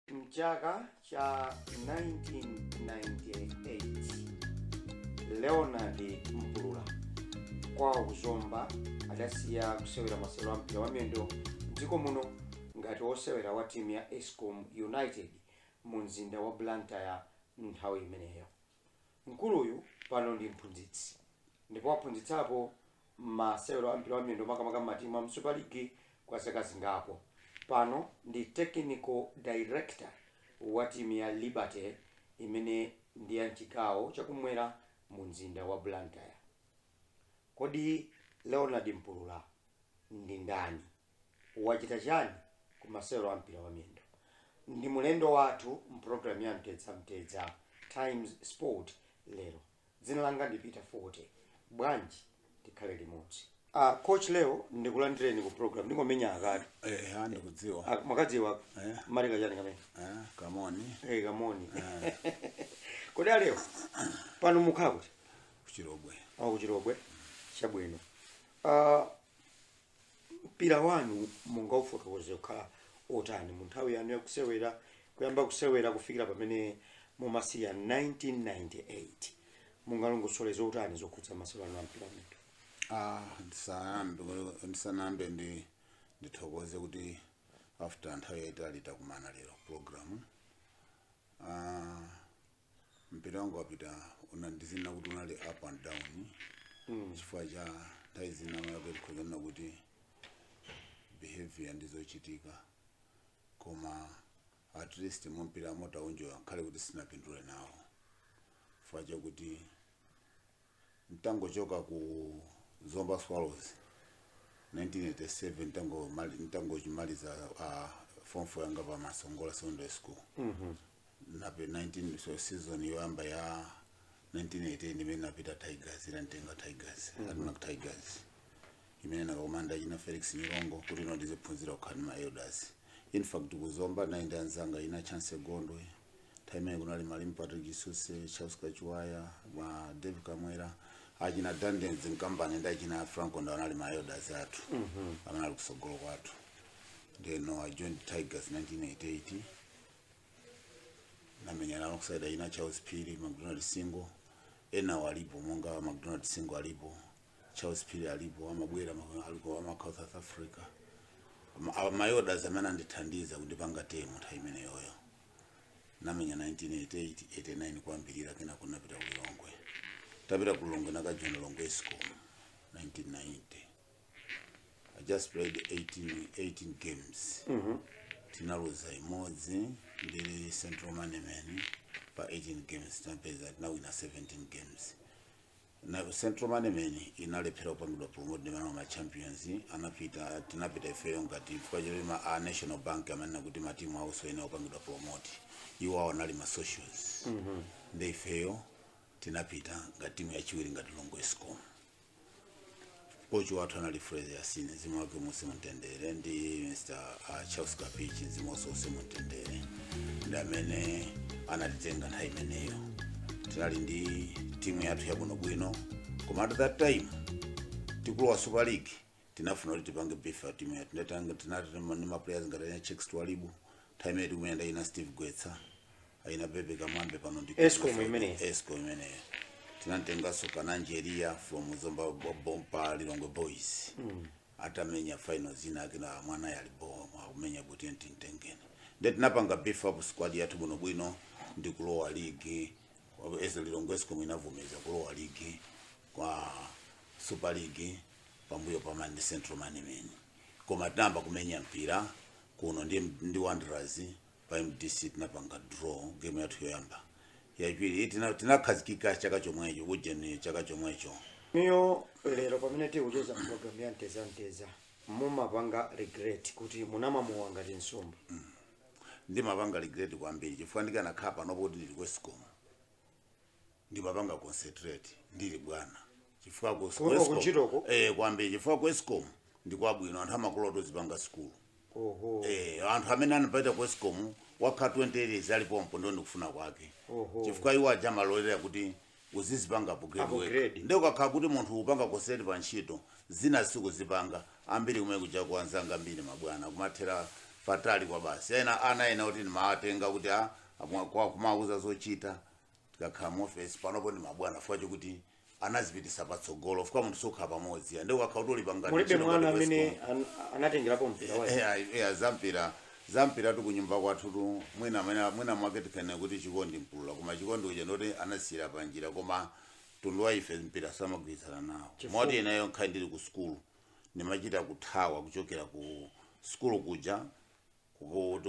Mchaka cha 1998 Leonard Mpulula kwawo ku Zomba adasiya kusewera masewero a mpira wa miyendo mdziko muno ngati wosewera wa timu ya Escom United mu mzinda wa Blantyre nthawi imeneyo. Mkuluyu pano ndi mphunzitsi ndipo waphunzitsapo masewero a mpira wa miyendo makamaka mmatimu a mu Super League kwa zaka zingapo. Pano ndi Technical Director wa timu ya Liberty imene ndi ya mchigawo chakumwera mu mzinda wa Blantyre. Kodi Leonard Mpulula ndi ndani? wachita chani ku masewero a mpira wa miyendo? Ndi mulendo wathu m'program ya Mtetsa Mtetsa Times Sport lero. Dzina langa ndi Peter Fote. Bwanji tikhale limodzi. Ah, coach leo ndikulandireni ku program ndingomenya akati Eh, ah, ndikudziwa. Ah, mwakadziwa Eh. malika chani kamene Ah, kamoni. Eh, kamoni kodi aleo pano mukukhala kuti Ku Chilobwe. Ah ku Chilobwe chabwino Ah, mpira wanu mungaufotokoze kukhala otani mu nthawi yanu yakusewera kuyamba kusewera kufikira pamene mumasiya 1998 mungalongosole zotani zokhudza masewero anu a mpira wa miyendo Ah, ndisanambe ndisanambe ndi ndithokoze kuti after nthawi yaitali takumana lero program ah, mpira wanga wapita una ndizinena kuti unali up and down chifukwa cha nthawi zina wake tikhoza kunena kuti behavior ndizochitika koma at least mpira tinauenjoya ngakhale kuti sinapindule nawo chifukwa chakuti nditangochoka ku zomba swallows 1987 nditangomaliza uh, form 4 yanga pa masongola secondary school mm -hmm. nape 19 so season yoyamba ya 1988 imene napita tigers inantenga tigers mm -hmm. admarc tigers imene nakakumana ndi achina felix nyirongo kuti ino ndiziphunzira kukhala ndi ma elders in fact kuzomba nali ndi anzanga achina chancy gondwe nthawi imene kunali malemu patrick suse charles kachiwaya ma dave kamwera achina dandens mkambani ndi achina franco ndawa anali ma elders athu amene ali kusogolo kwathu ndeno i joined tigers 1988 namenya nalo ku side ya achina charles phiri macdonald singo ena walipo monga macdonald singo alipo charles phiri alipo amabwera ma- amakhala south africa Ma- a- mayodas amene andithandiza kundipanga temu nthawi imeneyoyo ndamenya 1988 89 kwambiri kenaka ndinapita ku lilongwe tapita ku lilongwe ndinakajoina lilongwe escom 1990 i just played 18, 18 games tinaluza imodzi ndili central management pa 18 games tinapeza tinawina 17 games nde central management inalephera kupangidwa promote ndi amene anali ma champions anapita tinapita ifeyo ngati chifukwa choti ma a national bank amanena kuti matimu awo sayenera kupangidwa promote iwo awo anali ma socials nde ifeyo tinapita ngati timu yachiwiri ngati lilongwe escom kochi wathu anali Fraser Yasini mzimu wake uuse mu mtendere ndi Mr. ah, Charles Kapichi mzimu wake uuse mu mtendere ndi amene amatitenga nthawi imeneyo tinali ndi timu yathu yabwinobwino koma at that time tikulowa super league tinafuna kuti tipange beef up timu yathu Ndinatanga- tinali ndi ma players ngati aina checks twaibu nthawi imene tikumuyenda aina steve gwetsa aina bebe kamwambe pano ndi Escom Kenya, imeneyi. escom imeneyo tinamtenganso ka nigeria from zomba bo- bompa lilongwe boys atamenya final zina ake na mwana yali bo akumenya kuti enti mtengeni nde tinapanga beef up squad yathu bwinobwino ndi kulowa ligi as lilongwe escom inavomeza kulowa ligi kwa super league pambuyo pa mani central management koma tinayamba kumenya mpira kuno ndi, ndi wanderers pa mdc tinapanga draw game yathu yoyamba yachiwiri tina- tinakhazikika chaka chomwecho ujeni chaka chomwecho niyo lero pamene tikucheza program ya macheza macheza mumapanga regret kuti munamamuwa ngati nsomba ndimapanga regret kwambiri chifukwa ndikanakhala panopo kuti ndili ku escom ndimapanga concentrate ndili bwana chifukwa ku- Kuno ku Escom- kuntchitoko? eh kwambiri chifukwa ku escom ndi kwabwino anthu amakulola utazipanga sukulu oho eh anthu amene anapita ku escom wakhala 20 years ali pompo ndiye ndikufuna kwake Oho. chifukwa iwo aja amalolera kuti uzizipanga upgrade. upgrade ndiye ukakhala kuti munthu upanga concentrate pa ntchito zina sikuzipanga ambiri kumene kuja anzanga ambiri ndi mabwana kumathera patali kwa basi ena ana ena kuti ndimawatenga kuti a- amwa- kwa- kumawuza zochita tikakhala mu ofesi panopo ndi mabwana chifukwa chokuti anazipitisa patsogolo chifukwa munthu sukhala pamodzi and ukakhala kuti uli pangati mulibe ntchito mwana ngati amene kwa Escom. an- anatengerapo mpira ayi Eya, eya, zampira zampira tu kunyumba kwathu tu mwina mwina mwina mwake tikanena kuti chikondi mpulula koma chikondi uja ndoti anasiyira panjira koma mtundu wa ife mpira samagwirizana nawo moti ineyo ngakhale ndili ku sukulu ndimachita kuthawa kuchokera ku sukulu kuja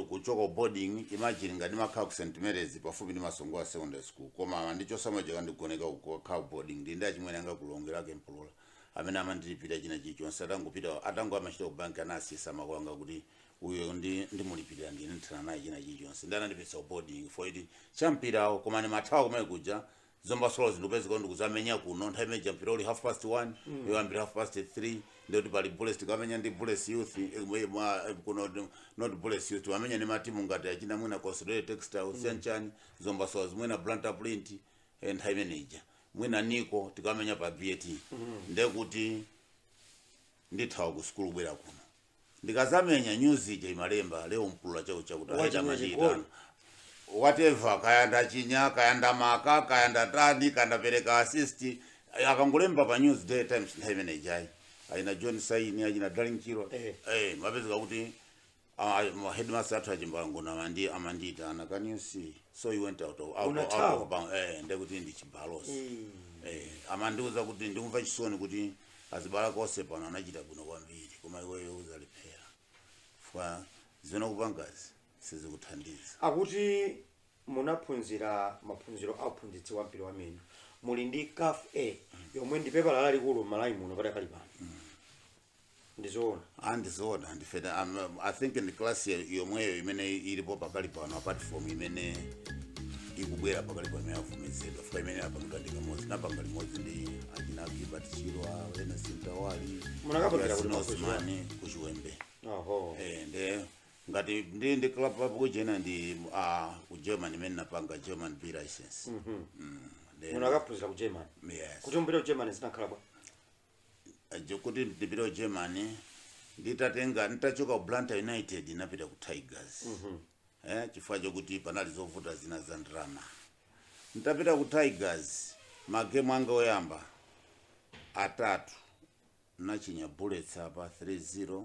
Kuchoka ku boarding imagine ngati ndimakhala ku St Mary's pafupi ndi Masongola Secondary School koma amandichosa moja kandigoneka uko kukakhala ku boarding ndili ndi achimwene anga ku Lilongwe a Mpulula amene amandilipirira china chilichonse atangopita atango amachita ku bank anasiyitsa makolo anga kuti uyo ndi ndimulipirira ndine ndithana naye china chilichonse ndi anandipititsa ku boarding fodi ya mpirawo koma ndimathawa kumene kuja Zomba zondipeza kuno ndikuzamenya kuno nthawi imene ija mpira uli half past 1 mm. yoyambira half past 3 ndekuti pali bullets tikamenya ndi bullets youth eh, mwe- mwa- eh, kuno ndi- not bullets youth timamenya ndi matimu ngati achina mwina Consolidated Textile chanichani Zomba mwina Blantyre Print eh, nthawi imene ija mwina league tikamenya pa bat ndekuti ndithawa ku sukulu kubwera kuno ndikazamenya news ija imalemba leo mpulula chakutichakuti Wachinya aenda machita chigoli. whatever kaya ndachinya kaya ndamaka kaya ndatani kaya ndapereka assist akangolemba pa news day times nthawi imene ijayi achina john saini achina darling chirwa Eh. eh zimapezeka kuti ah, ma headmaster athu achimbango namandi amandiitana can you see so you went out of out, Una out of bounds eh ndekuti ndi chibalo eh amandiuza kuti ndikumva chisoni kuti azibale ako onse pano anachita bwino kwambiri koma iweyo uzalephera chifukwa zimene ukupangazi sizikuthandiza nde kuti munaphunzira maphunziro a uphunzitsi wa mpira wa miyendo muli ndi caf a yomwe ndi pepala lalikulu m'malawi muno padakali pano ndizoona ndizoona ndife ta- am- i think ndi class yo- yomweyo imene ilipo pakali pano apart from imene ikubwera pakali pano imene yavomezedwa chifukwa imene yapangidwa ndi kamodzi napanga limodzi ndi achina gilbert chirwa Ernest Mtawali Munakapangila kuti zomwezi kuchiwembe oho Eh, nde ngati ndi ndi club papo kuchena ndi ah, ku german imene napanga german b license Mm, nde- munakaphunzira ku german yes. tiuzeni za ku german zinakhala bwa kuti ndipite ku germany nditatenga nditachoka ku blantyre united napita ku tigers eh, chifukwa chokuti panali zovuta zina za ndalama nditapita ku tigers magemu anga oyamba atatu ndinachinya bullets apa 3-0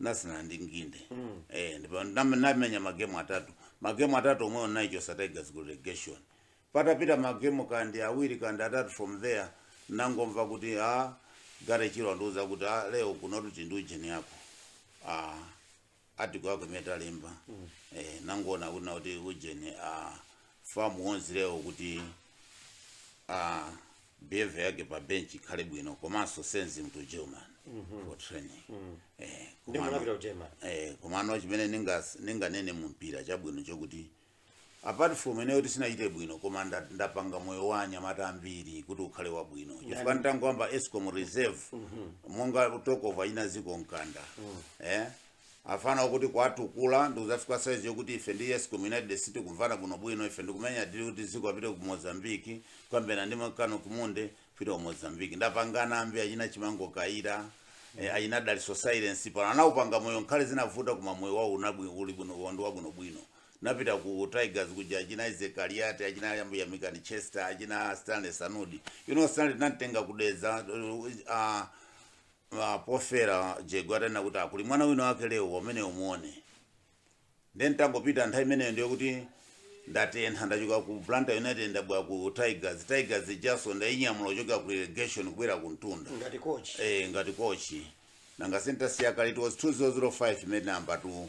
ndatsala ndi nginde eh ndipo ndam- ndamenya magemu atatu magemu atatu omwe ndinaichotsa tigers ku relegation patapita magemu kandi awiri kandi atatu from there nangomva kuti a garry chirwa andiuza kuti a leo kuno kunatu ndi ujeni yako article yako imene talemba eh nangona kuti na kuti ujeni a fam yandiuza leo kuti uh, behavior yake pa bench ikhale bwino komanso send him to german for training eh, Ndi kumano- munapita ku German. eh, komano chimene ningas- ninganene mumpira chabwino chokuti apart from ineyo kuti sinachite bwino koma nda- ndapanga moyo wa anyamata ambiri kuti ukhale wabwino chifukwa nditangoyamba escom reserve monga achina zicco mkanda eh, afana okuti kuwatukula ndikuzafika size yokuti ife ndi sitikumvana bwino bwino ife ndikumenya dili kuti ziko apite ku Mozambique kumene ndi makano kumu nde apita ku Mozambique ndapanga ambiri achina chimango kayira eh, achina daliso sailesi pano anaupanga moyo ngakhale zinavuta koma moyo wao unabwi uli bwino anthu wabwino bwino napita ku Tigers kuja achina Isaac Kaliati achina yambu Yamikani Chester achina Stanley Sanudi you know Stanley namtenga kudeza uh, ah, pofera jego atanena kuti kuli mwana wina wake Lewo amene umuone nde nitangopita nthawi imeneyo ndiyo kuti ndatentha ndachoka ku blantyre united ndabwera ku tigers tigers ijanso ndainyamula kuchoka ku relegation kubwera ku mtunda ngati coach eh, ngati kochi nanga sinditasiya kale it was 2005 imene number two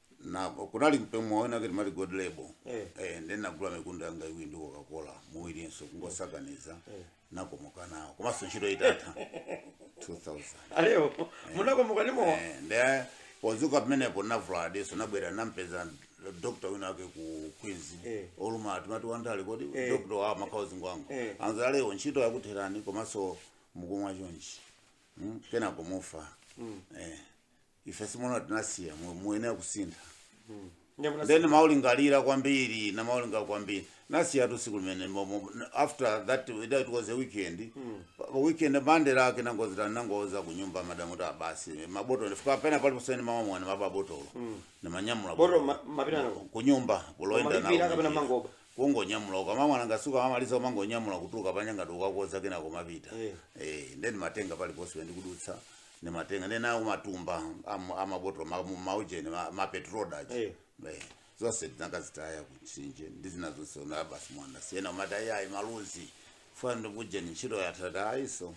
na kunali m'bemo wina kuti mali gold label Eh. eh ndi nagula mikundo yanga iwiri ndi coca cola muwiri ndiso kungosakaniza nakomoka nawo komanso ntchito itatha 2000 alewo munakomoka ndi mowa Eh, nde podzuka pamenepo navulala diso nabwera nampeza dokta wina wake ku queens Eh. olo uyu timati wandali kodi Eh. dokta wa makhauzi ngwangu Eh. anza alewo ntchito yakutherani komanso mukumamwa chonchi Mm, kenako mufa Eh, ife simona tinasiya mu- muyenera kusintha Ndiye munasi- then maulingalira kwambiri na nalingalira kwambiri nasiyatu tsiku limene mo- mo- after that that it was a weekend Pa- pa weekend mande lake nangozita nangouza kunyumba madamu ndati basi mabotolo fika pena pali kusena mmamwa nimaba botolo nimanyamula Botolo ma- mumapita nalo? kunyumba kumayenda Mumalipira kapena mumangoba? kungonyamula ndikamamwa ndikatsuka amaliza umangonyamula kutuka panyanga doka koza kena komapita Eh. eh then ndimatenga paliponse ndikudutsa ndimatenga ndinawo matumba am- amabotolo ma- mu- maujeni ma- mapetrol aja Eh. Eh, zonse ndinakazitaya kumtsinje ndi zina zonse mowa basi mwasiya ena amati ayi ayi maluzi funa ndikujeni ntchito yatha ndati ayi nso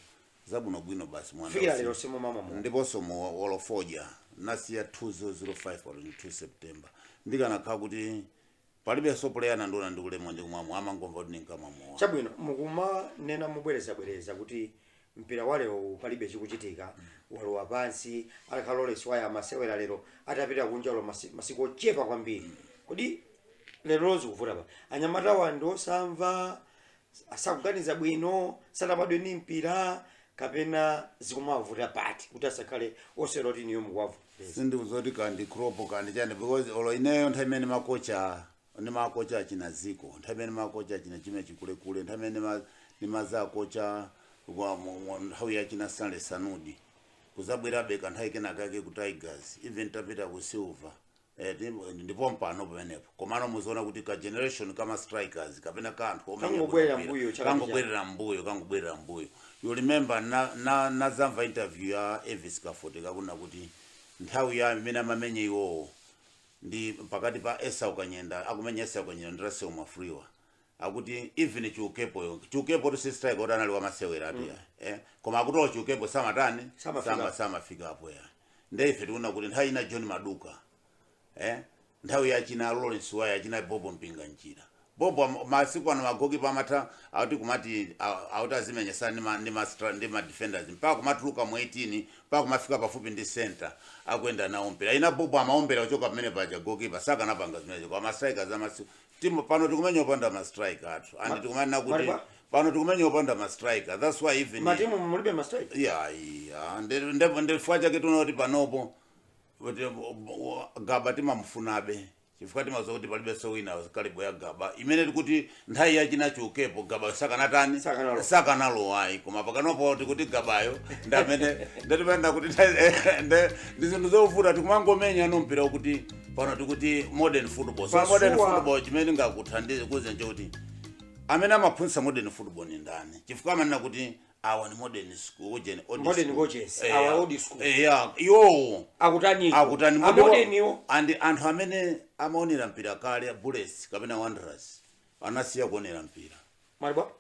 zabwinobwino basi mowa kufikira usi- lero simumamwa mowa ndiponso mowa olo fodya nasiya 2005 02 september ndikanakhala kuti palibenso puleya nandiona ndikumwa ndikumwa mowa amangomva kuti ndinkamwa mowa chabwino mukumanena mubwerezabwereza kuti mpira wa lero uwu palibe chikuchitika walowa pansi atakhala kuti lawrence waya amasewera lero atapita kunja olo masi- masiku ochepa kwambiri kodi lerolo zikuvuta pati anyamatawa ndi osamva sakuganiza bwino sanabadwe ndi mpira kapena zikumawavuta pati kuti asakhale osewera ngati inuyo zikuwavuta sindikudziwa kuti kaya ndi crop kaya ndi chani because olo ineyo nthawi imene nimakocha nimakocha achina ziko nthawi imene nimakocha achina chime chikulekule nthawi imene ma- nimazakocha wa mu- mu- nthawi yachina stanley sanudi kuzabwerabe kanthawi kenakake ku tigers even tapita ku silver Eh, ndi- ndipo mpano pamenepo komano muziona kuti ka generation ka ma strikers kapena ka anthu omenya Kangobwerera bwino mbuyo, mpira, chaka ndi chaka kangobwerera mbuyo kangobwerera mbuyo you remember na- na- nazamva interview ya Elvis Kafoteka akunena kuti nthawi yake imene amamenya iwowo ndi pakati pa Esau Kanyenda akumenya Esau Kanyenda ndi Russell Mwafulirwa akuti even Chiukepo yo Chiukepo tu si striker kuti anali wamasewera atu ya eh koma akuti a Chiukepo samatani Samafika. sama samafika apo ya nde ife tikuona kuti nthawi ya china John Maduka eh nthawi ya china Lawrence Waya achina Bobo Mpinga njira Bobo am- masiku ano magoki pamatha akuti kumati a- kuti azimenyesana ndi ma ndi ma stra- ndi ma defenders mpaka kumatuluka mu 18 mpaka kumafika pafupi ndi center akuyenda nawo mpira achina Bobo amaombera kuchoka pamene paja goalkeeper sakanapanga zimenezo kwa mastrikers amasiku timu pano tikumenya opanda ma striker athu Ma- and tikumanena kuti Malawi pano tikumenya opanda ma striker that's why even matimu mulibe mastrai yeah yeah nde nde nde chifukwa chake tikunena kuti panopo kuti Gaba timamufunabe chifukwa timadziwa kuti palibe so wina caliber ya Gaba imene tikuti nthawi yachina Chiukepo Gaba sakanatani Sakanalo. sakanalowa ayi koma pakanopo tikuti Gabayo ndi amene nde timanena kuti nthawi- nde ndi zinthu zovuta tikumangomenya ano mpira kuti pano tikuti modern football so Pa modern sure. football chimene ndingakuuzeni nchoti amene amaphunzitsa modern football ni ndani chifukwa amanena kuti awa ni modern school oujeni old Modern school. coaches, Eh, awa old school. eh, yeah, iwowo akutani akutani modern- amodeniwo ndi anthu amene amaonera mpira kale Bullets kapena Wanderers anasiya kuonera mpira mwati bwa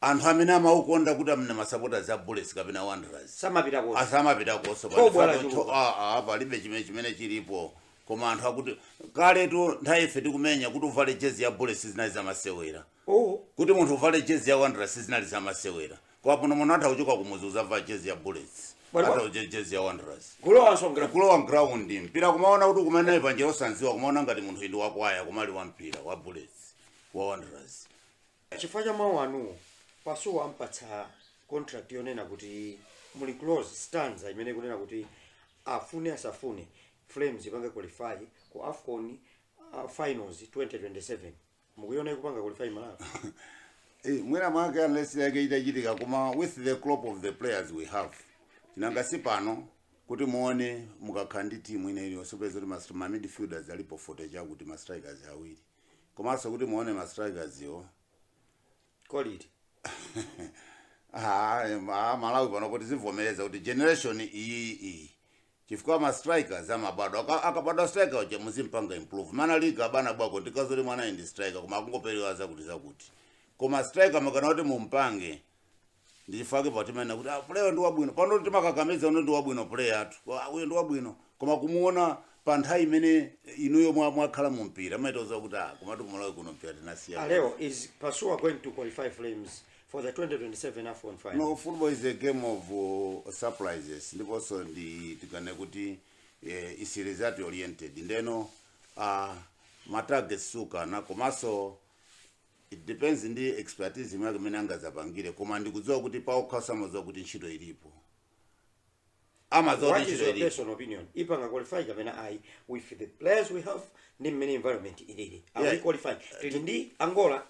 anthu amene amaukonda kuti amene masapotaz a Bullets kapena Wanderers samapita konse asamapita konse Thobwa palifato lachuluka. tho- ah, ah, palibe chimene chimene chilipo koma anthu akuti kaletu nthawi ife tikumenya kuti uvale jezi ya Bullets sizinali zamasewera oh kuti munthu uvale jezi ya Wanderers sizinali zamasewera koma pano munthu atha kuchoka kumudzi kuzavala jezi ya Bullets Bwana- atha kuche jezi ya Wanderers kulowanso mgra kulowa ground mpira kumaona kuti kumene panjira osanziwa kumaona ngati munthuyu ndi wakwaya koma ali wa mpira wa Bullets wa Wanderers chifukwa cha mawu anuwo Pasuwa ampatsa contract yonena kuti muli clause stanza imene ikunena kuti afune asafune Flames ipange qualify ku AFCON uh, finals 2027 mukuiona ikupanga qualify Malawi Eh, mwina mwake miracle yake itachitika koma with the crop of the players we have nanga si pano kuti muone mukakhala ndi timu ine iliyonse peza kuti mas- ma midfielders alipo 40 chakuti ma strikers awiri komanso kuti muone ma strikers yo quality Ah, em, ah, Malawi panopo tizivomereza kuti generation iyi iyi chifukwa ma strikers amabadwa Aka- akabadwa striker uja muzimpanga improve mwana ali ku Gaba na Bwako ndi zoti mwanayu ndi striker koma akungoperewera zakuti zakuti koma striker mukanena kuti mumpange ndi chifukwa chake pa timanena kuti ah, player ndi wabwino pano timakakamiza uno ndi wabwino player athu Ah, uyo ndi wabwino koma kumuona pa nthawi imene inuyo mwa- mwakhala mu mpira amaitoza kuti ah, komatu kumalawi kuno mpira tinasiya Leo, is Pasuwa going to qualify Flames for the 2027 AFCON final? no football is a game of uh, surprises ndiponso nditi kaya kuti eh, is result oriented ndiyeno uh, matarget sukana komanso it depends ndi expertise imene imene angadzapangire koma ndikudziwa kuti paokha amadziwa kuti ntchito ilipo amadziwa What kuti is ntchito your ilipo personal opinion? Ipanga qualify kapena ayi with the players we have ndi mmene environment ilili. Are Yeah. we qualified? Tili ndi Angola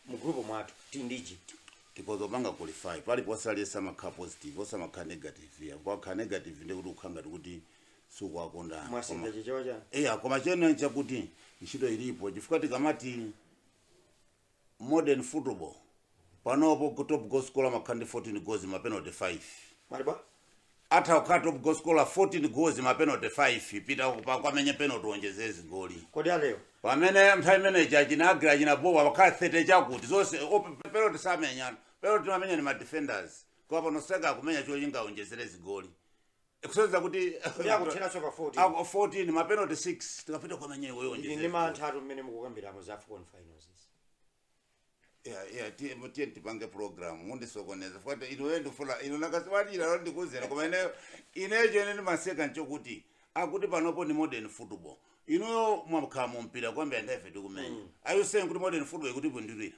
mu group mwathu, tili ndi Egypt. tikhoza kupanga qualify paliponse aliyense amakhala positive osamakhala negative ya ukakhala negative ndekuti ukhala ngati kuti sukuwakonda Mwasintha chichewa chanu. eya koma china nchakuti ntchito ilipo chifukwa tikamati modern football panopo go- top goal scorer amakhala ndi 14 goals ma penalty 5 Mali bwa? atha kukhala top goal scorer 14 goals ma penalty 5 pita ukamenye penalty uonjezere zigoli Kodi alewa? pamene nthawi imeneyi achina agra achina bowa amakhala 30 chakuti zonse op- penalty samenya penalty amamenya ndi ma defenders koma pano akumenya chocho kuti aonjezere zigoli ikusonyeza kuti kuti akutheranso pa 14 ako 14 mapenalty 6 tikapita kukamenya iweyo Ili ndi njezera. mantha atu mmene mukukambiramo za afcon finals izi. Yeah, yeah, tiye tiye tipange program mukundisokoneza fuata inuwe ndifula inu nakasiwalira lo ndikuzera koma ineyo ineyo chimene ndimaseka nchokuti akuti panopo ni modern football inuyo mwakhala mumpira kwambiri ndi ife tikumenya are you saying kuti modern football ikuti bwindilira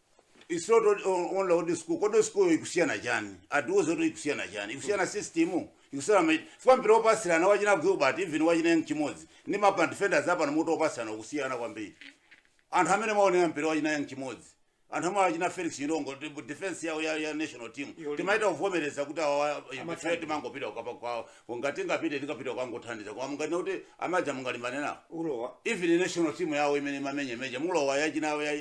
it's not old- ol- old old school kodi old school ikusiyana chani atiuze kuti ikusiyana chani ikusiyana system ikusiyana ma- chifukwa mpira opasirana wa achina gilbert even wa achina young chimodzi ndi ma defenders apano muti opasirana ukusiyana kwambiri anthu amene amaonera mpira wa achina young chimodzi anthu amene wa achina felix chilongo ndi defense yawo ya, ya national team Yolima. timaita kuvomereza kuti awa Amatani. ife timangopita kukapa kwawo Ko ngati tingapite tikapita kukangothandiza koma munganene kuti amene aja mungalimbane nawo ulowa even national team yawo imene imamenya meja mulowa ya achina awo ya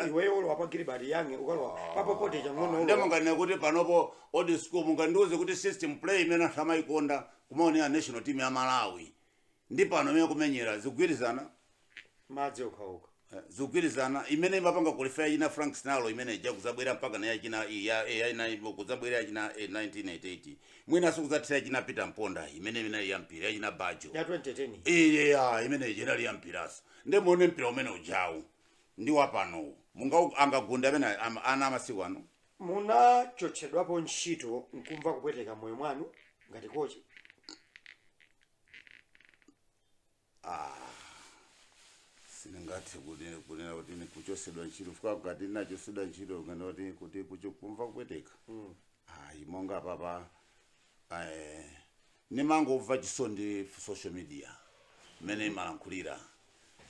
iweyo ulowa pa gilbert young ukalowa papopote chang'ono nde ulowa munganene kuti panopo old school mungandiuze kuti system play imene anthu amayikonda kumaonera national team ya malawi ndi pano imene kumenyera zikugwirizana madzi okhaokha eh, zikugwirizana imene imapanga qualify ya achina frank sinalo imene ija kudzabwera mpaka na yachina i- ya- eh, yachina ibo, kudzabwera ya achina eh, 1988 mwinanso kudzathera ya achina peter mponda imene imene yampira ya achina bajo ya 2010 iya imene ija inali yampiranso nde muone mpira umene ujawu ndi wapanowu munga angagunde amene ama- ana amasiku ano munachotsedwapo ntchito nkumva kupweteka moyo mwanu ngati kochi sindingathe kuti kunena kuti ndikuchotsedwa ntchito chifukwa ngati ndinachotsedwa ntchito kukana kuti kuti kucho- kumva kupweteka ayi monga panopa eh, nimangomva chisondi social media mmene imalankhulira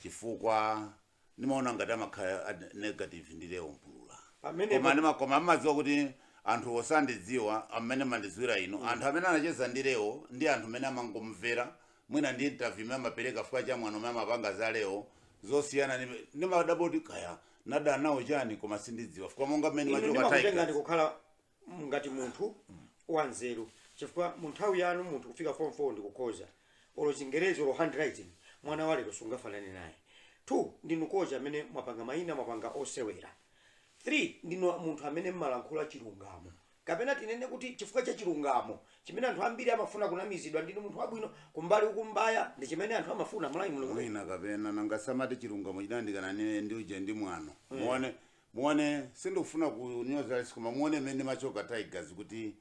chifukwa ndimaona ngati amakhala ad- negative ndi leo mpulula Pamene koma pa- ndima- koma amadziwa kuti anthu osandidziwa amene amandidziwira ino anthu amene anacheza ndi leo ndi anthu amene amangomvera mwina ndi interview imene amapereka chifukwa cha mwano umene amapanga za leo zosiyana ndi- ndimadabwa kuti kaya ndadya nawo chani koma sindidziwa chifukwa monga mmene ndimachoka ndimakutengani Tigers. kukhala m- ngati munthu wanzeru chifukwa mu nthawi yanu munthu kufika form 4 ndikukhoza olo chingerezi olo handwriting mwana wa lero sungafanane naye two ndinu kocha amene mwapanga mayina mwapanga osewera three ndinu munthu amene mmalankhula chilungamo kapena tinene kuti chifukwa cha chilungamo chimene anthu ambiri amafuna kunamizidwa ndinu munthu wabwino kumbali kumbaya ndi chimene anthu amafuna mulayi mulungu mwina kapena nangasamati chilungamo chinandikana ndi uje ndi mwano muone Muone sindikufuna kunyoza aliyense koma muone mmene ndimachoka Tigers kuti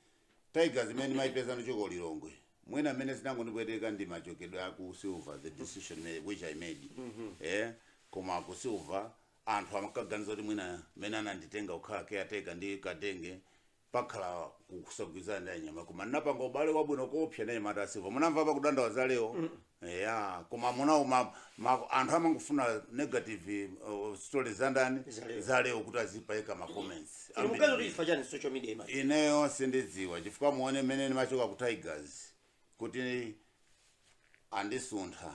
Tigers imene ndimaipeza nditachoka ku Lilongwe. Mwina mmene zinangondipweteka ndi machokedwe a ku Silver the decision me- which I made. Eh koma ku Silver anthu amakaganiza kuti mwina mmene ananditenga kukhala caretaker ndi Kadenge pakhala kusagwirizana ndi anyamata koma ndinapanga ubale wabwino koopsa ndi anyamata a Silver munamva pa kudandaula za leo ya koma munaona ma, ma, anthu amangofuna negative uh, stories za ndani Za leo. za leo kuti azipaika ma comments Inu mukuti chifukwa chani social media ima ineyo sindidziwa chifukwa muone mmene ndimachoka ku tigers kuti andisuntha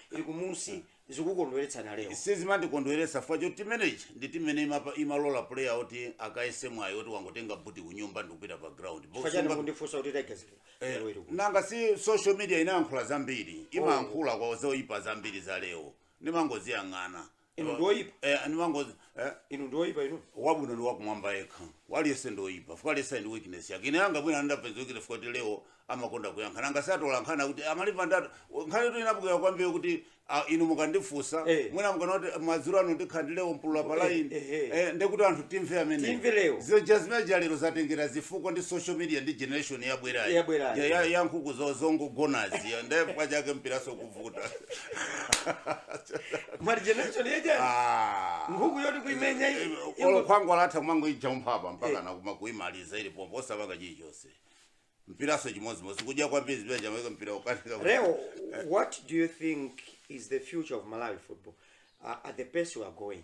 ili kumusi zikukondweretsani a Leo. sizimandikondweretsa chifukwa choti timuyi ndi timu imene imapa- imalola player oti akayese mwayi oti wangotenga buti kunyumba ndikupita pa ground Bo- Chifukwa chani sunga- kundifunsa kuti Tigers Eh, lero ili kuti? nanga si social media imayankhula zambiri imayankhula kwa zoyipa zambiri za leo ndimangoziyang'ana inu ndi oyipa eh, ndi mangozi eh, inu ndi oyipa inu wabwino ndi wakumwamba yekha aliyense ndi oyipa chifukwa aliyense ali ndi weakness yake ine yanga bwino andapezekile chifukwa kuti leo amakonda kuyankha nanga si atola nkhani kuti amalipa ndithu nkhanitu inabukira kwambiri kuti ah, inu mukandifunsa Eh. mwina mukanaati madzulo ano ndikhala ndi leo mpulula pa Eh, line eh, eh. eh, ndikuti anthu timve amene Timve leo. zija zimene za lero zatengera zifukwa ndi social media ndi generation yabwerayi Yabwerayi. Ya- ya- ya nkhuku zo- zongogonazi nde pachake mpiranso vuta la generation yake Ah. nkhuku yoti kuimenya iyi, ingo- olo khwangwala atha kumangoija umphapa mpaka nakuma kuimaliza ili pompo osapanga chilichonse mpiranso chimodzimodzi kudya kwambiri zipira chamaweka mpira ukanika Leo, what do you think is the future of Malawi football uh, at the pace we are going?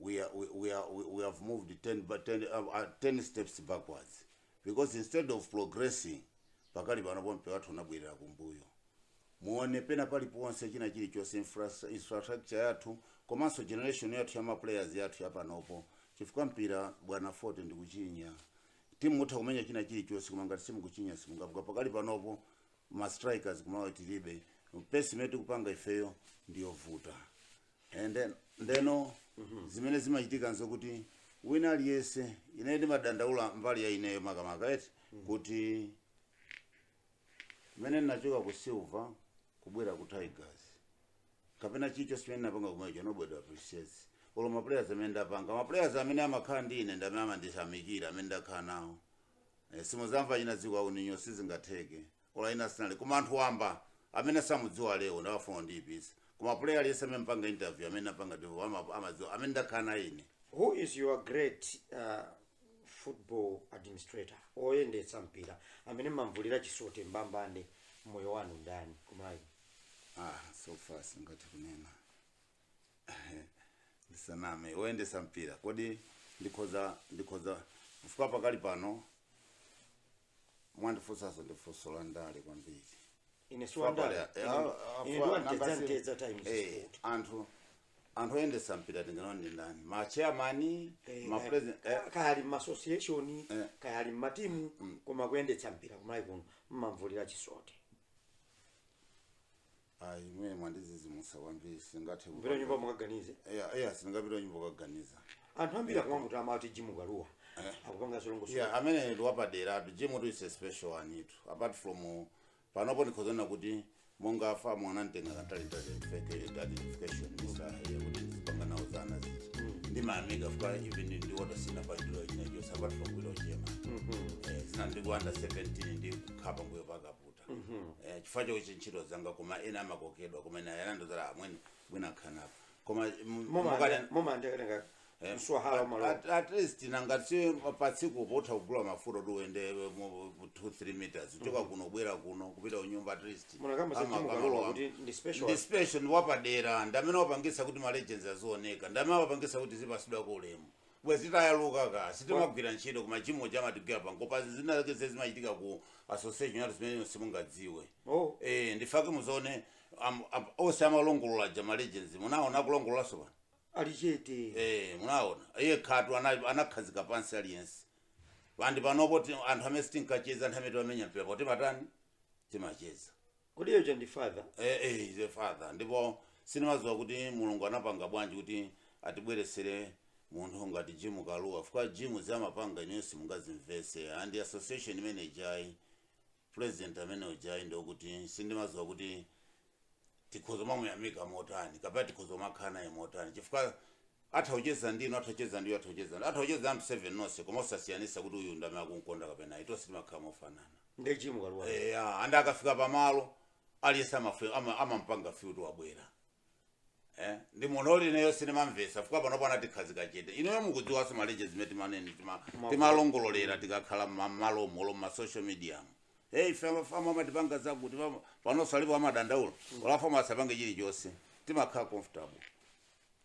we, are, we, we, are, we, we have moved 10, ba- 10, uh, uh, 10 steps backwards because instead of progressing pakali pano mpira wathu unabwerera kumbuyo muone pena paliponse china chilichonse infras- infrastructure yathu komanso generation yathu ya maplayers athu yapanopo chifukwa mpira bwana fote ndikuchinya timu mutha kumenya china chilichonse koma ngati simukuchinya simungapite pakali panopo ma strikers kuMalawi tilibe pace imene tikupanga ifeyo ndiyovuta And then- ndeno zimene zimachitika nzokuti wina aliyense ine ndimadandaula mbali ya ineyo makamaka eti kuti mmene ndinachoka ku Silver kubwera ku Tigers kapena chilichonse chimene ndinapanga kumeneko nobody appreciates olo maplayers amene ndapanga maplayers amene amakhala ndi ine ndamene amandiyamikira amene ndakhala nawo Eh, simuzamva china dziko auninyo sizingatheke ola ina sinali koma anthu wamba amene samudziwa Leo ndi amafuna kundiyipitsa koma player aliyense amene mupanga interview amene apanga ndipo ama- amadziwa amene ndakhala naye ine who is your great uh, football administrator oyendetsa mpira amene mumamvulira chisote mbambande mmoyo wanu ndani kuMalawi ah so far sindingathe kunena ndisaname oyendesa mpira kodi ndikhoza ndikhoza kufika pakali pano mwandifunsanso ndi funso la ndale kwambiri ine si wandale Fabiano, Ine- ah, ah, ine fa- ndiwa nanga mtedza si- mtedza times eh, sport anthu anthu oyendesa mpira tinganene kuti ndi ndani ma chairman Eh, ma kaya- president eh, kaya- kaya ali m'association Eh. kaya ali m'matimu koma kuyendetsa mpira kuMalawi kuno mumamvulira chisote ayi inu mwandidzidzimutsa kwambiri simungathe kupita kunyumba mukaganize eya eya sindingapite kunyumba kukaganiza anthu ambiri akumamutama amati Jim Kalua akupanga zolongosola yeah amene ndi wapadera tu Jim tu is a special one itu apart from uh, panopo ndikhoza kunena kuti monga afa mwana mtenga kantalintali identification mr kuti zipanga nawo zana ziti ndi maamiga fuka even ndi Walter sanapange china chilichonse apart from kuilo chema Eh, zina ndi ku under 17 ndi kukhapa mbuyo pakaputa ndikuvuta mm-hmm. eh, chifukwa chokuti ntchito zanga koma ena amakokedwa koma ena yanandozala amwene bwinobwino khanapa koma mumandeketenga eh, mswahala malo at, at least nanga si patsiku umatha kugula mafuta kuti uende 2 3 meters kuchoka mm-hmm. kuno kubwera kuno kupita kunyumba at least ndispecial ndiwapadera ndamene wapangisa kuti malegends azioneka ndamene wapangisa kuti tizipatsidwako ulemu bwezi tayaluka ka sitimagwira ntchito koma Jim amatigwira pang'ono pa zina zake zimene zimachitika ku association yathu zimene simungadziwe oh eh ndifake muzone am- am- onse amalongolola za ma legends munaona akulongololanso pano ali chete eh munaona iye khatu ana- anakhazika pansi aliyense ndipo panopo ti- anthu amene sitinkacheza anthu amene timamenya mpira poti timadana timacheza kodi yocho ndi father eh, eh, ize father ndipo sinimaziwa kuti mulungu anapanga bwanji kuti atibweresere munthu ngati Jimu Kalua fika Jimu zimene amapanga ineyo simungazimvese and association imene ija president amene uja ndi okuti sindimaziwa kuti tikhoza kumamuyamika motani kapena tikhoza kumakhala naye motani chifukwa atha kucheza ndinu atha kucheza ndi iwo atha kucheza ndi- atha kucheza anthu 7 tonse koma osasiyanisa kuti uyu ndamene akunkonda kapena ayi tonse timakhala mofanana nde Jimu Kalua eya andi akafika pamalo aliyese amafu- ama- amampanga fyuti wabwera Eh, ndi munthu oti ineyo sinimamvesa fika panopo anatikhazika chete ineyo mukudziwanso maleje zimene timanene tima- Mavu- timalongololera tikakhala mmalo malo mmasocial media hey fellow fama amatipanga zakuti pama- panonso alipo amadandaula ola asapange chilichonse timakhala comfortable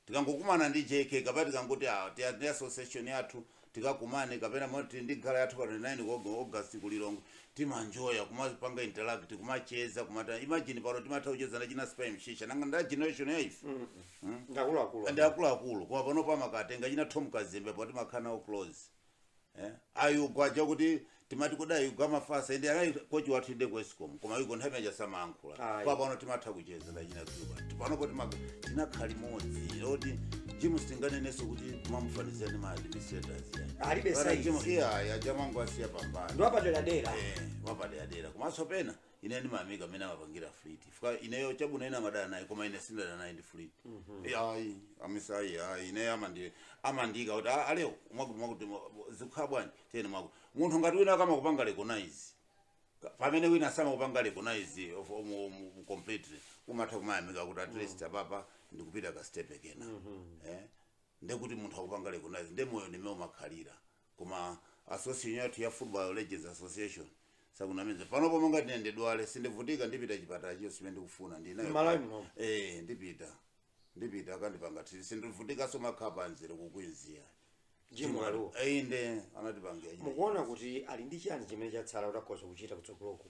tikangokumana ndi JK kapena tikangoti ah, tiya ndi association yathu tikakumane kapena mwina tili ndi gala yathu pa 29 Aug- August ku Lilongwe timaenjoya kumapanga interact kumacheza kumatha imagine pano timatha kucheza ndi achina spam shisha nanga nda generation ya ife ndakuluakulu ndi akuluakulu koma panopo amakatenga achina Tom Kazembe poti timakhala nawo close eh? a Yugo aja kuti timati kodi a Yugo amafasa and anali kochi wathu inde ku escom koma a Yugo nthawi imene ija samayankhula Ayi. koma pano timatha kucheza ndachina dzuwa tipanopo timak- tinakhala limodzi ndiye Jim sitinganenenso kuti umamufanizira ndi ma administrators Alibe size. iwo aja mumangowasiya pambali ndi wapaderadera wapaderadera komanso pena ine ndimayamika mmene amapangira fleet fika ineyo chabwino ena amadana naye koma ine sindadana naye ndi fleet Eh, ayi amisa ayi ayi ine amandi amanditcha kuti "Ah, a Leo mwakuti mwakuti zikukhala bwanji tiyeni mwakuti munthu ngati wina akamakupanga recognize pamene wina samakupanga recognize of- mu- mu- mu- completely umatha kumayamika kuti at least apapa ndikupita ka step kena eh ndekuti munthu akukupanga recognize nde moyo ndi mmene umakhalira koma association yathu ya football legends association sakunamiza panopo ngati ine ndidwale sindivutika ndipita chipatala chonse chimene ndikufuna ndinayo Malawi muno. eh ndipita ndipita akandipanga treat sindivutikanso makhala pamzere ku Queens Jim Kalua. inde anatipangira chimene mukuona kuti ali ndi chani chimene chatsala kuti akhoza kuchita kutsogoloku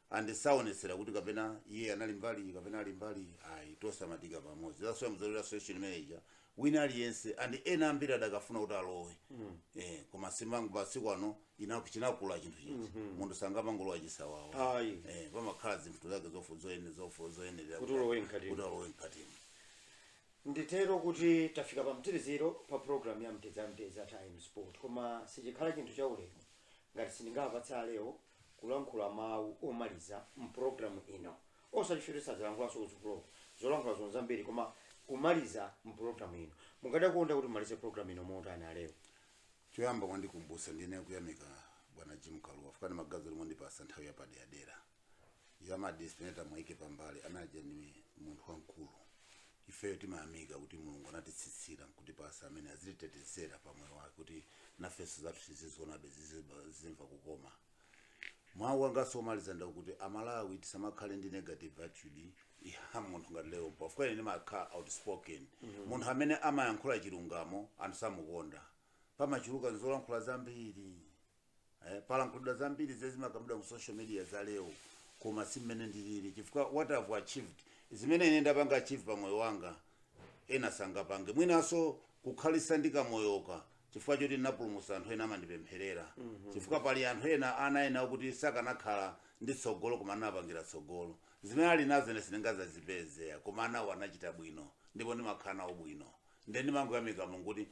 and saonetsera kuti kapena iye anali mbali iyi kapena ali mbali iyi ayi tonse amatiika pamodzi that's why mzalero association manager wina aliyense and ena ambiri adakafuna kuti alowe eh, koma simangoti masiku ano ina- chinakula chinthu chija munthu sangamangolowa chisawawa ayi eh, pamakhala zinthu zake zofu- zoyene- zofu- zoyenerera Kuti ulowe mkatimo. kuti ulowe mkatimo nditero kuti tafika pa mtsiriziro pa programu ya mtedza mtedza time sport koma sichikhala chinthu cha ulemu ngati sindingapatse Leo kulankhula mawu omaliza mpulogalamu ino osati choti sadzalankhulanso kutsogoloko zolankhula zonse nzambiri koma kumaliza mpulogalamu ino mungadakonda kuti mumalize pulogalamu ino motani a Leo choyamba mwandikumbutsa ndikuyamika bwana jim kalua chifukwa ndi magazi lomwe wandipatsa nthawi yapaderadera ya madispeneta muwaike pambali a naja ndi munthu wamkulu Ifeyo timayamika kuti Mulungu anatitsitsira nkutipasa amene aziwatetezera pa moyo wake kuti nafenso zathu tizizionabe zizimva kukoma. Mau angano omaliza ndi akuti a Malawi tisamakhale ndi negative attitude ya munthu ngati Leo Mpulula chifukwa ine ndimakhala outspoken munthu amene amayankhula chilungamo anthu samukonda pamachuluka nzolankhula zambiri eh, palankhulidwa zambiri zimene zimakambidwa mu social media za leo koma si mmene ndilili chifukwa what i've achieved zimene ine ndapanga achieve pa moyo wanga ena sangapange mwinanso kukhalitsa ndi kamoyoka chifukwa choti ndinapulumutsa anthu ena amandipempherera chifukwa pali anthu ena ana ena kuti sakanakhala ndi tsogolo koma ndinawapangira tsogolo zimene ali nazo ine sindingazazipeze koma anawo anachita bwino ndipo ndimakhala nawo bwino ndiye ndimangoyamika mulungu kuti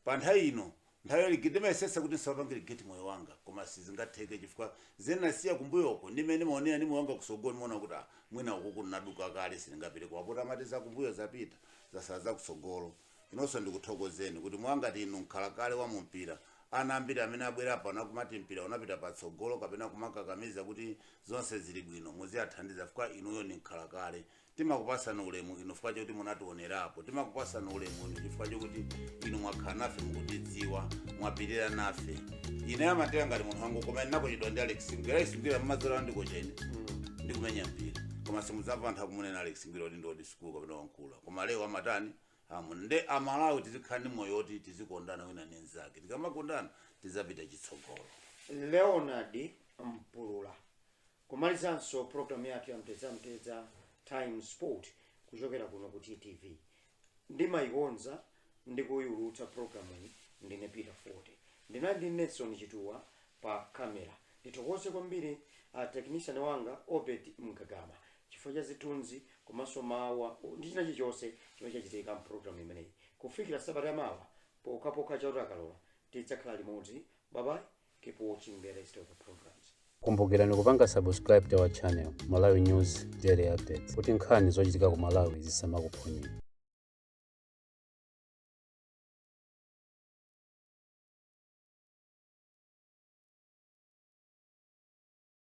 pa nthawi ino Nthawi yonse ndimayesetsa kuti nisawapange regret moyo wanga koma sizingatheke chifukwa zimene nasiya kumbuyoko ndi mmene nimaonera ndi moyo wanga kusogolo nimaona kuti ah mwina ukuku nnaduka kale siningapite koma poti amati zakumbuyo zapita zasala zakusogolo inonso ndikuthokozeni kuti monga inu nkhalakale wa mumpira ana ambiri amene abwera pano akumati mpira unapita patsogolo kapena kumakakamiza kuti zonse zili bwino muziathandiza chifukwa inuyo ndi nkhalakale timakupasani ulemu inu chifukwa choti munationerapo timakupasani ulemu inu chifukwa chokuti inu mwakhala nafe mukutidziwa mwapirira nafe ine mumanditenga ngati munthu wangu koma ndinakotchedwa ndi alex ngwira alex ngwira mmadzora ndi kochi ndikumenya mpira koma simudzamva anthu akumunena alex ngwira kuti ndi old school kapena wakula koma leo amatani amuna nde amalawi tizikhala ndi moyo woti tizikondana wina ndi mnzake tikamakondana tizapita chitsogolo leonard mpulula Kumalizanso program yathu ya mtedzamtedza times sport kuchokera kuno ku ttv ndimaikonza ndi kuiulutsa programuyi ndine peter forte ndinali ndi nelson chituwa pa camera ndithokoze kwambiri a technician wanga obed mgagama chifukwa cha zithunzi komanso mawu ndi china chilichonse chimene chachitika mprogramu imeneyi kufikira sabata yamawa pokhapokha chauta akalola tidzakhala limodzi babayi Keep watching the rest of the programs. kumbukirani kupanga subscribe to our channel malawi news daily updates kuti nkhani zochitika ku malawi zisamakuphonyeni